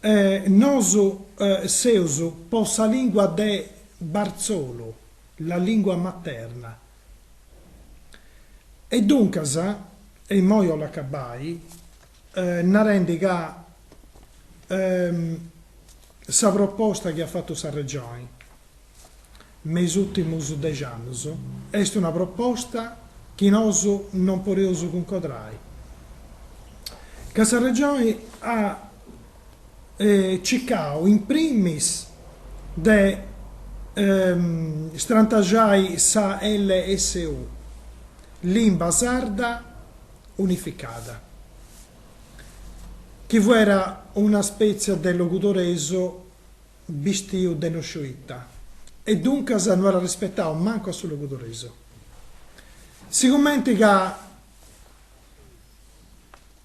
E nosu seus po sa lingua de barzolu, la lingua materna. E duncas, e immoi 'ollu acabai, narendi ca sa proposta chi at fatu sa Regioni, me is ùrtimus dexi annus est una proposta chi nosu non podeus cuncodrai, ca sa Regioni at cicau in primis de strantaxai sa LSU, Limba Sarda Unificada, chi fuera una spètzia de logudoresu Bistiu de no sciu ita. E duncas no at arrispetau mancu a su logudoresu. Sigumenti ca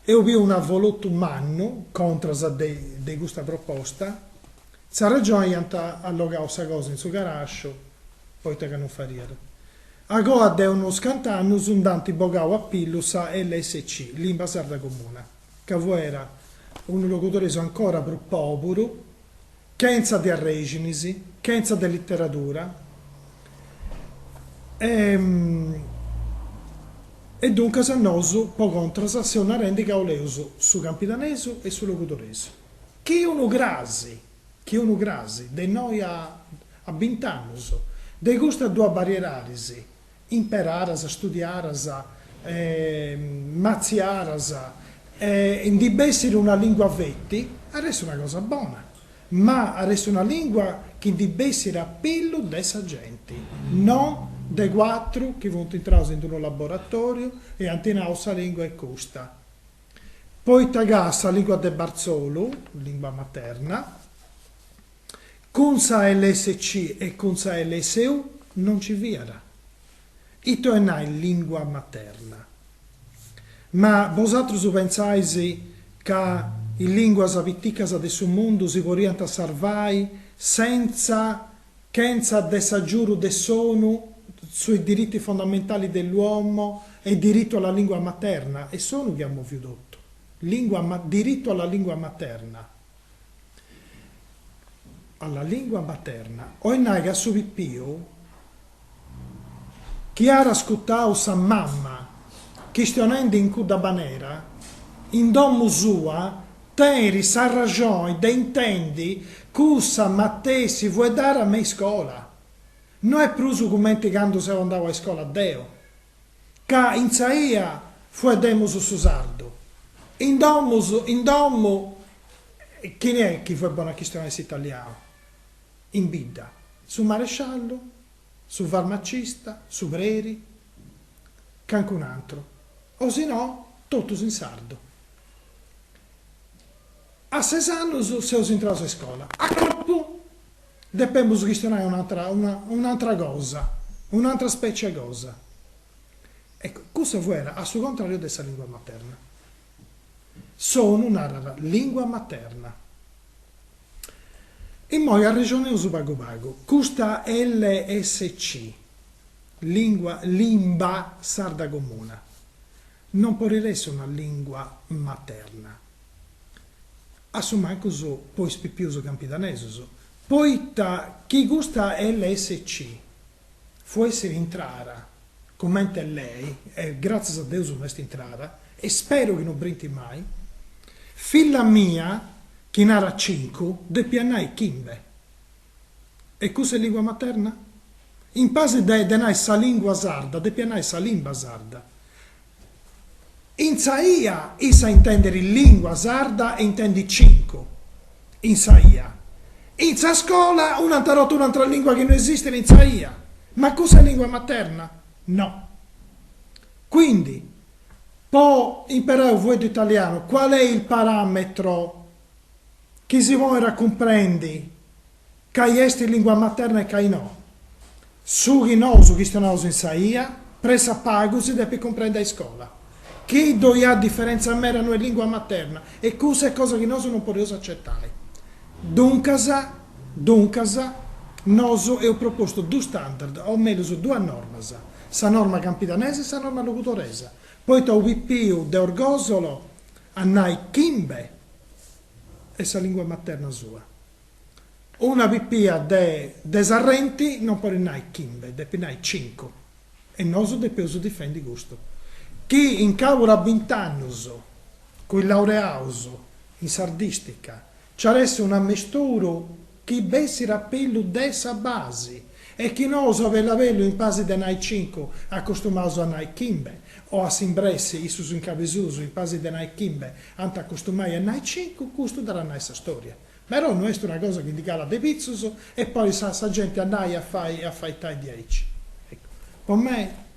eus biu un'avolotu mannu contras de custa proposta, sa Regioni iant allogau sa cosa in su carasciu, poita ca non fadiat. Agoa de unus cant'annus nd'ant bogau a pillu sa LSC, Limba Sarda Comuna. ca fuera unu logudoresu ancora prus pòburu, chentza de arrèxinis, chentza de literadura, e e duncas nosu, po contras, seus narendi ca oleus su campidanesu e su logudoresu. Chi unu cras, chi unu cras, de innoi a a bint'annus, de custas duas bariedaris, imperàras, studiàras, matziàras, ndi bessiri una lìngua feti, at essi una cosa bona, ma at essi una lìngua chi ndi bessiri a pillu de sa genti, no de cuatru chi funt intraus in unu laboratòriu e ant nau sa lìngua est custa. Poita ca sa lìngua de barzolu, lìngua materna, Cun sa LSC e cun sa LSU no nci fiat. Ita oi nai lìngua materna? Ma bosatrus pentzais ca is lìnguas piticas de su mundu si poriant sarvai sentza chentza de s'agiuru de s'ONU sui diritti fondamentali dell'uomo e diritto alla lingua materna? Est s'ONU chi at moviu totu. Diritto alla lingua materna. alla lingua materna, oi nai ca su pipiu chi at ascutau sa mama chistionendi in cudda manera in domu sua teniri s'arraxoni de intendi cussa matessi fueddara me iscola, no est prus cumenti candu seu andau a iscola deu. ca in sa 'ia fueddemus su sardu, in domus in domu, chini est chi fuet bonu a chistionai s'italianu, in bidda, su maresciallu, su farmacista, su preri, cancunu antru, o si no totus in sardu. A ses annus seus intraus a iscola, a corpu. Depemus chistionai un'atra un'atra cosa, un'atra specie 'e cosa. Ecco, cussa fuet a su contrariu de sa lingua materna. S'ONU narat lingua materna. Immoi arrexoneus pagu pagu. Custa LSC, lingua limba sarda comuna, Non podit essi una lingua materna, a su mancus po is pipius campidanesus, poita chi custa LSC fuessit intrara cumenti 'e lei, e gratzias a Deus no est intrara, e speru chi no brintit mai, filla mia chi narat cincu, depiat nai chimbe. E cussa est lìngua materna? In pasi de de nai sa lìngua sarda, depiat nai sa limba sarda. In sa ia, issa intendit lìngua sarda e intendit cincu, in sa ia. In sa scola un'antra, totu un'atra lìngua chi no esistit in sa ia. Ma cussa est lìngua materna? No. Quindi, po imperai unu fueddu italianu, qual est il parametro chi si poit a cumprendi cai est lingua materna e cai no. Su chi nosu chistionaus in sa ia, pressapagu si depit cumprendi a iscola, chi ddoi at diferentza meda no est lingua materna e cussa est cosa chi nosu non podeus acetai. Duncas, duncas, nosu eus propostu dus standard, o mellus duas normas, sa norma campidanesa e sa norma logudoresa, poita unu pipiu de Orgosolo, a nai chimbe est sa lingua materna sua. Una pipia de de Serrenti non podit nai chimbe, depit nai cincu, e nosu depeus difendi custu, chi in cabudu a bint'annus, cun is laureaus in sardistica Ci at a essi un'ammisturu chi bessit a pillu de sa basi e chi nosu a bellu a bellu in pasi de nai cincu, accustumaus a nai chimbe, o a s'imbressi, issus in Cabesusu in pasi de nai chimbe ant a accustumai a nai cincu, custu dd'at a nai sa storia. Però no est una cosa chi ndi calat de pitzus e poit sa sa genti a nai e a fai e a faitai diaici. Po mei.